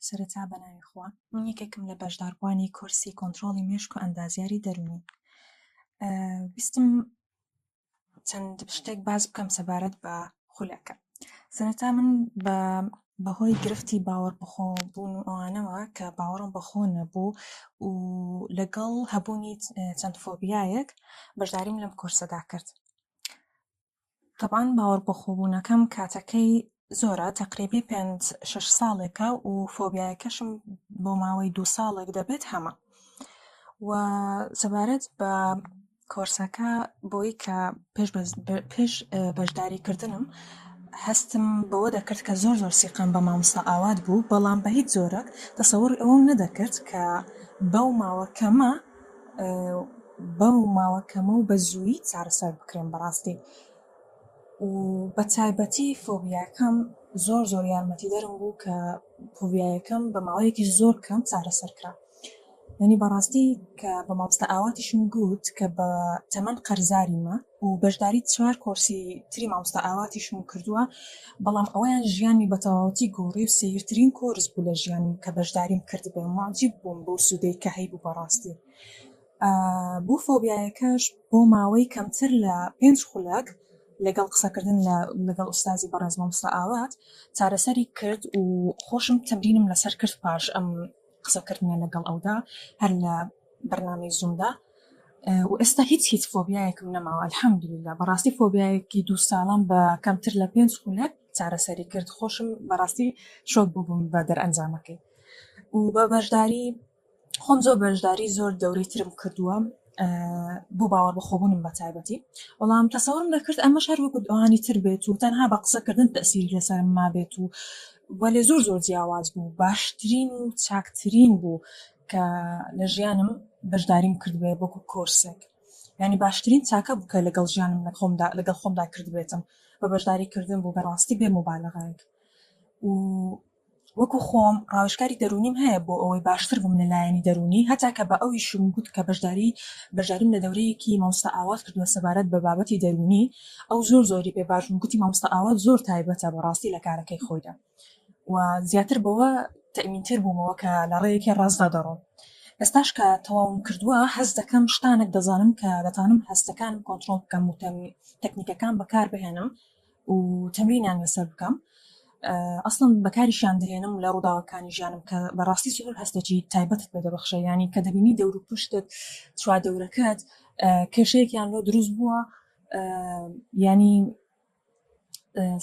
سەرەتا بە ناوی خوا. من یەکێکم لە بەشداربووانی کۆرسی کۆنترۆڵی مێشک و ئەندازیاری دەروونی. ویستم چەند شتێک باس بکەم سەبارەت بە خولەکە. سەرەتا من بە بەهۆی گرفتی باوەڕ بەخۆ بوون و ئەوانەوە کە باوەڕم بەخۆ نەبوو و لەگەڵ هەبوونی چەند فۆبیایەک بەشداریم لەم کۆرسەدا کرد تەبعەن باوەڕبەخۆبوونەکەم کاتەکەی زۆرە تەقریبی پێنج شەش ساڵێکە و فۆبیایەکەشم بۆ ماوەی دوو ساڵێک دەبێت هەمە و سەبارەت بە کۆرسەکە بۆی کە پێش بەشداری کردنم هەستم بەوە دەکرد کە زۆر زۆر سیقام بە مامۆستا ئاوات بوو بەڵام بە هیچ زۆرە تەسەوری ئەوەم نەدەکرد کە بەو ماوە کەمە بەم ماوە کەمە و بە زوویی چارەسەر بکرێن بەڕاستی و بە تایبەتی فۆبیاکەم زۆر زۆر یارمەتیدەرم بوو کە فۆبیایەکەم بە ماوەیەکی زۆر کەم چارەسەر کرا یعنی بەڕاستی کە بە مامۆستا ئاواتیشم گوت کە بە تەمەن قەرزاریمە و بەشداری چوار کۆرسی تری مامۆستا ئاواتیشم کردووە، بەڵام ئەوەیان ژیانمی بەتەواوەتی گۆڕی و سەیرترین کۆرس بوو لە ژیانم کە بەشداریم کردبێ و موعجیب بووم بەو سوودەی کە هەیبوو بەڕاستی بۆ فۆبیایەکەش بۆ ماوەی کەمتر لە پێنج خولەک لەگەڵ قسەکردن لەگەڵ ئوستازی بەڕێز مامۆستا ئاوات چارەسەری کرد و خۆشم تەمرینم لەسەر کرد پاش ئەم قسەکردنە لەگەڵ ئەودا هەر لە بەرنامەی زومدا و ئێستا هیچ هیچ فۆبیایەکم نەماوە الحەمدللا بەڕاستی فۆبیایەکی دوو ساڵم بە کەمتر لە پێنج خولەک چارەسەری کرد خۆشم بەڕاستی شۆک بووبووم بە دەرئەنجامەکەی و بە بەشداری خۆم زۆر بەشداری زۆر دەورەی ترم کردووە بۆ باوەڕبەخۆبوونم بەتایبەتی، بەڵام تەسەورم دەکرد ئەمەش هەر وەکو ئەوانی تر بێت و تەنها بە قسەکردن تەئسیری لەسەرم مابێت و وەلێ زۆر زۆر جیاواز بوو، باشترین و چاکترین بوو کە لە ژیانم بەشداریم کردبێت وەکو کۆرسێک، یانی باشترین چاکە بوو کە لەگەڵ ژیانم لەخۆمدا لەگەڵ خۆمدا کردبێتم بە بەشداریکردن بوو بەڕاستی بێ موبالەغایەک و وەکو خۆم ڕاوێژکاری دەروونیم هەیە بۆ ئەوەی باشتر بم لە لایەنی دەروونی هەتا کە بە ئەویشم گوت کە بەشداری بەشداریم لە دەورەیەکی مامۆستا ئاوات کردوە سەبارەت بە بابەتی دەروونی ئەو زۆر زۆری پێ باش بوو گوتی مامۆستا ئاوات زۆر تایبەتە بەڕاستی لە کارەکەی خۆیدا و زیاتر بەوە تەئمین تر بوومەوە کە لە ڕێیەکی ڕاستدا دەڕۆم ئێستاش کە تەواوم کردووە هەست دەکەم شتانێک دەزانم کە دەتانم هەستەکانم کۆنترۆڵ بکەم و تەکنیکەکان بەکار بهێنم و تەمرینیان لەسەر بکەم ئەسڵم بەکاریشیان دەێنم لە ڕووداوەکانی ژیانم کە بەڕاستی زۆر هەستەکی تایبەتت بە دەبەخشە ینی کە دەبینی دەور و پشتت چوا دەورەکەت کێشەیەکیان لۆ دروست بووە ینی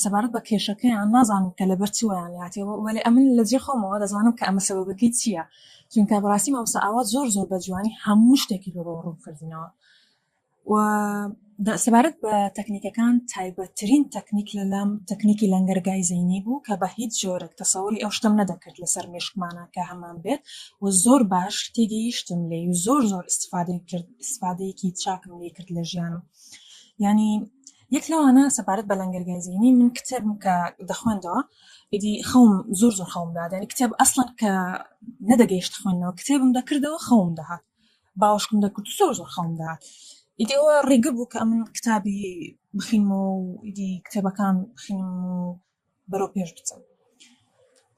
سەبارەت بە کێشەکەیان نازانم کە لەبەر چوەیان هاتێەوە وەێ ئەمن لە جێ خۆمەوە دەزانم کە ئەمە سەبەکەی چییە چونکە بەڕاستی مامسا ئاوا زۆر زۆر بە جوانی هەموو شتێکی لۆ ڕوون کردنەوە و سەبارەت بە تەکنیکەکان تایبەتترین تەکنیک لە لام تەکنیکی لەنگەرگای زینی بوو کە بە هیچ جۆرێک تەسەوری ئەو شتم نەدەکرد لەسەر مێشکمانە کە هەمان بێت و زۆر باش تێگەیشتم لێ و زۆر زۆر استفادەی کرد استفادەیەکی چاکم لێ کرد لە ژیانم ینی یەک لەوانە سەبارەت بە لەنگەرگای زینی من کتێبم کە دەخوێندەوە ئیدی خەوم زۆر زۆر خەوم دادێنی کتێب ئەسڵەن کە نەدەگەیشت خوێندنەوە کتێبم دەکردەوە خەوم دەهات باوەشکم دەکرد زۆر زۆر خەڵم دەهات ئیدی ئەوە ڕیگر بوو کە ئەمن کتابی بخینمەوە و ئیدی کتێبەکان بخینم و بەرەو پێش بچم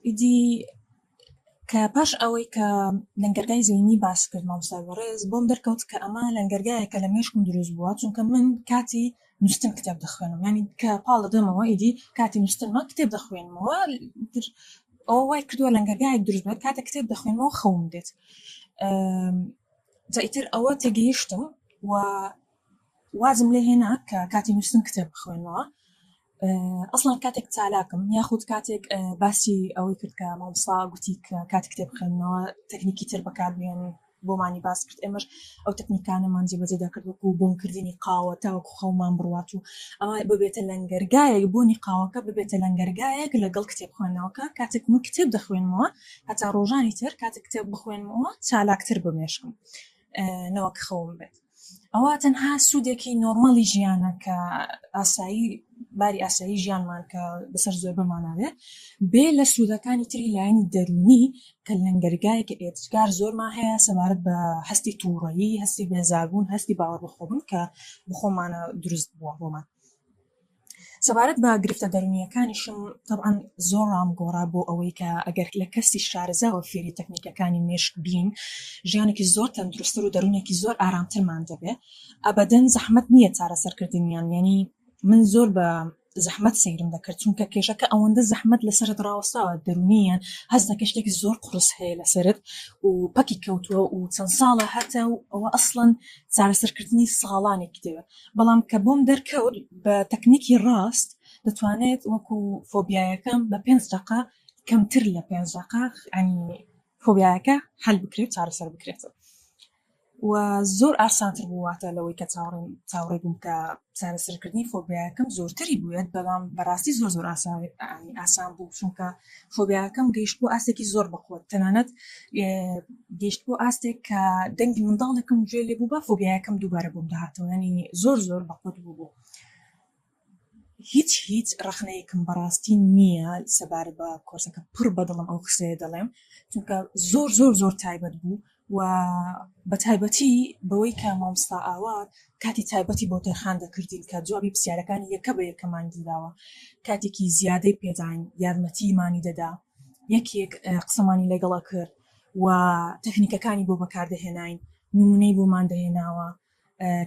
ئیدی کە پاش ئەوەی کە لەنگەرگای زینی باس کرد مامسای بەڕێز بۆم دەرکەوت کە ئەمە لەنگەرگایە کە لە مێشکم دروست بووە چونکە من کاتی نوشتن کتێب دەخوێنم ینی کە پاڵ دەدەمەوە ئیدی کاتی نوشتنمە کتێب دەخوێنمەوە تر ئەوە وای کردووە لەنگەرگایەک دروست بێت کاتە کتێب دەخوێنمەوە خەوم دێت جا ئیتر ئەوە تێگەیشتم و وازم لێ هێنا کە کاتی نووسن کتێب بخوێنەوە ئەسڵان کاتێک چالاکم یاخود کاتێک باسی ئەوەی کرد کە مامسا گوتی کە کات کتێب بخێنەوە تەکنیکی تر بەکاربیێنی بۆمانی باس کرد ئێمەش ئەو تەکنیکانەمان جێبەجێ دەکرد وەکو بۆن کردنی قاوە تاوەکو خەومان بڕوات و ئەوە ببێتە لەنگەرگایەک بۆنی قاوەکە ببێتە لەنگەرگایەک لەگەڵ کتێب خوێندنەوەکە کاتێک من کتێب دەخوێنمەوە هەتا ڕۆژانی تر کاتێک کتێب بخوێنمەوە چالاکتر بمێشکم نەوەک خەوم بێت. ئەوە تەنها سوودێکی نۆرمالی ژیانە کە ئاسایی باری ئاسایی ژیانمان کە بەسەر زۆر بماناوێت بێ لە سوودەکانی تری لایەنی دەرونی کە لەنگەرگای کە ئێتجگار زۆرمان هەیە سەبارەت بە هەستی تووڕەیی هەستی بێزاربوون هەستی باوەڕ بەخۆبوون کە بخۆمانە دروست بووە بۆمان سەبارەت بە گرفتە دەرونییەکانیشم تەبعەن زۆر ڕامگۆڕا بۆ ئەوەی کە ئەگەر لە کەسی شارەزاوە فێری تەکنیکەکانی مێشک بین ژیانێکی زۆر تەندروستتر و دەرونێکی زۆر ئارامترمان دەبێ ئەبەدەن زەحمەت نییە چارەسەرکردنیان یانی من زۆر بە زەحمەت سەیرم دەکرد چونکە کێشەکە ئەوەندە زەحمەت لەسەرت ڕاوەستاوە دەرونیان هەست دەکەی شتێکی زۆر قڕس هەیە لەسەرت و پەکی کەوتووە و چەند ساڵە هەتە و ئەوە ئەسڵەن چارەسەرکردنی ساڵانێکی دەوێت بەڵام کە بۆم دەرکەوت بە تەکنیکی ڕاست دەتوانێت وەکو فۆبیایەکەم بە پێنج دەقە کەمتر لە پێنج دەقە عنی فۆبیایەکە حل بکرێت چارەسەر بکرێت و زۆر ئاسانتر بوواتە لەوەی کە چاوڕێن چاوڕێ بووم کە چارەسەرکردنی فۆبیایەکەم زۆرتری بووێت بەڵام بەڕاستی زۆر زۆر ئاسان ئاسان بوو چونکە فۆبیاکەم گەیشت بۆ ئاستێکی زۆر بەخۆت تەنانەت گەیشت بۆ ئاستێک کە دەنگی منداڵێکم گوێ لێ بوو بە فۆبیاکەم دووبارە بۆم داهاتەوە ینی زۆر زۆر بەخۆت بوو بوو هیچ هیچ ڕخنەیەکم بەڕاستی نییە سەبارە بە کۆرسەکە پڕ بەدڵم ئەو قسەیە دەڵێم چونکە زۆر زۆر زۆر تایبەت بوو و بە تایبەتی بەوەی کە مامۆستا ئاوات کاتی تایبەتی بۆ تەرخان دەکردین کە جوابی پرسیارەکانی یەکە بە یەکەمان گیراوە کاتێکی زیادەی پێداین یارمەتی مانی دەدا یەکێک قسەمانی لەگەڵە کرد و تەکنیکەکانی بۆ بەکاردەهێناین نمونەی بۆمان دەهێناوە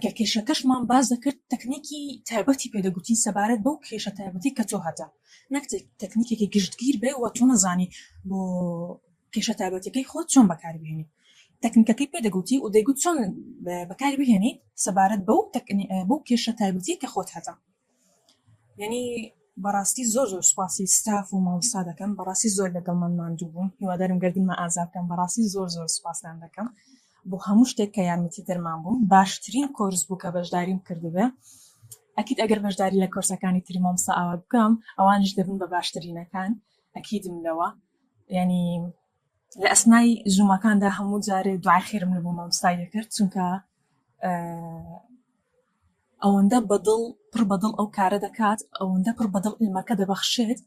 کە کێشەکەشمان باس دەکرد تەکنیکی تایبەتی پێدەگوتین سەبارەت بەو کێشە تایبەتی کە تۆ هەتە نەک تەکنیکێکی گشتگیر بێ و تۆ نەزانی بۆ کێشە تایبەتەکەی خۆت چۆن بەکاربیێنی تەکنیکەکەی پێدەگوتی و دەیگوت چۆن بەکاری بهێنیت سەبارەت بەو بەو کێشە تایبەتی کە خۆت هەتە یەنی بەڕاستی زۆر زۆر سوپاسی ستاف و مامۆستا دەکەم بەڕاستی زۆر لەگەڵمان ماندوو بوون هیوادارم گەردنمە ئازا بکەم بەڕاستی زۆر زۆر سوپاستان دەکەم بۆ هەموو شتێک کە یارمەتی دەرمان بوون باشترین کۆرس بوو کە بەشداریم کردبێ ئەکید ئەگەر بەشداری لە کۆرسەکانی تری مامۆستا ئاوا بکەم ئەوانش دەبن بە باشترینەکان ئەکیدم لەوە یعنی لە ئەسنای زوومەکاندا هەموو جارێ دوای خێرم لە بۆ مامۆستا دەکرد چونکە ئەوەندە بە دڵ پڕ بە دڵ ئەو کارە دەکات ئەوەندە پڕ بە دڵ علمەکە دەبەخشێت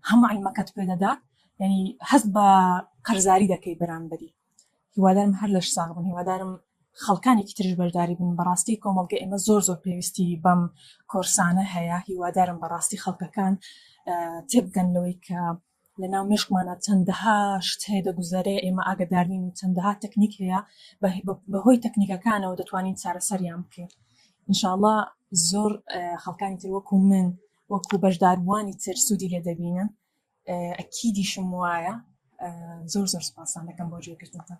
هەموو علمەکەت پێ دەدات یعنی هەست بە قەرزاری دەکەی بەرامبەری هیوادارم هەر لەش ساغ بن هیوادارم خەڵکانێکی ترش بەشداری بن بەڕاستی کۆمەڵگە ئێمە زۆر زۆر پێویستی بەم کۆرسانە هەیە هیوادارم بەڕاستی خەڵکەکان تێبگەن لەوەی کە لە ناو مێشکمانا چەندەها شت هەیە دەگوزەرێ، ئێمە ئاگەدار نین و چەندەها تەکنیک هەیە بە هۆی تەکنیکەکانەوە دەتوانین چارەسەریان بکەین. ان شاء اللە زۆر خەڵکانی تر وەکو من وەکو بەشداربووانی تر سوودی لێ دەبینن ئەکیدیشم وایە زۆر زۆر سپاسان دەکەم بۆ گوێگرتنتان.